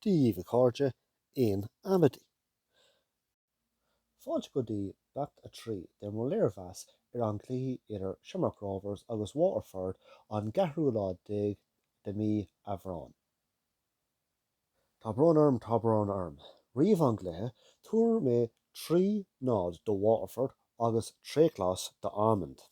Daoibh, a chairde, in amaidí. Fáilte go dtí Beacht 3 de mo léirmheas ar an gcluiche idir Shamrock Rovers agus Waterford an gceathrú lá déag de mí Aibreán. Tá brón orm, tá brón orm. Roimh an gcluiche, tuar mé trí náid do Waterford agus tréchleas d'Amond.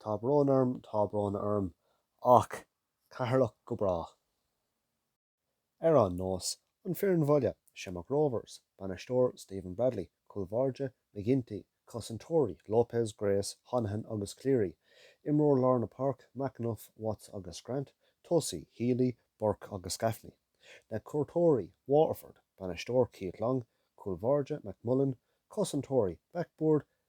Tá brón orm, tá brón orm. Ach Ceatharlach go brách. Ar aon nós, an foireann bhaile, Shamrock Rovers, bainisteoir, Stephen Bradley, cúl báire, McGinty, cosantóirí, Lopez, Grace, Honohan agus Cleary, imreoir lár na páirc, McEneff, Watts agus Grant, tosaí, Healy, Burke agus Gaffney, na cuairteoirí, Waterford, bainisteoir, Keith Long, cúl báire, McMullan, cosantóirí, Bakboord,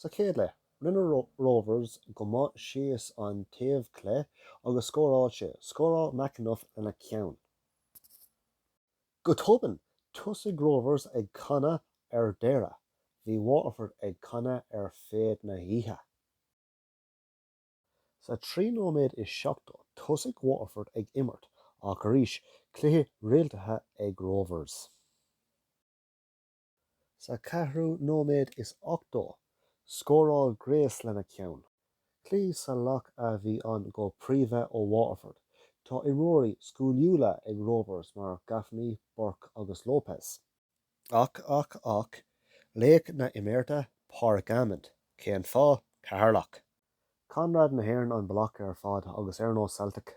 Sa chéad leath, rinne Rovers go maith síos an taobh clé agus scóráil sé. Scóráil McEneff lena ceann. Go tobann, tosaigh Rovers ag canadh ar deireadh. Bhí Waterford ag canadh ar feadh na hoíche. Sa trí nóiméad is seachtó, tosaigh Waterford ag imirt, ach arís, cluiche rialaithe ag Rovers. Sa ceathrú nóiméad is ochtó, scóráil Grace lena ceann. Cluiche salach a bhí ann go príomha ó Waterford. Tá imreoirí sciliúla ag Rovers mar Gaffney, Burke agus Lopez. Ach, ach, ach, laoch na himeartha, Pádraig Amond. Cén fáth? Ceatharlach. Conradh na hÉireann an bealach ar fad agus ar ndóigh Celtic.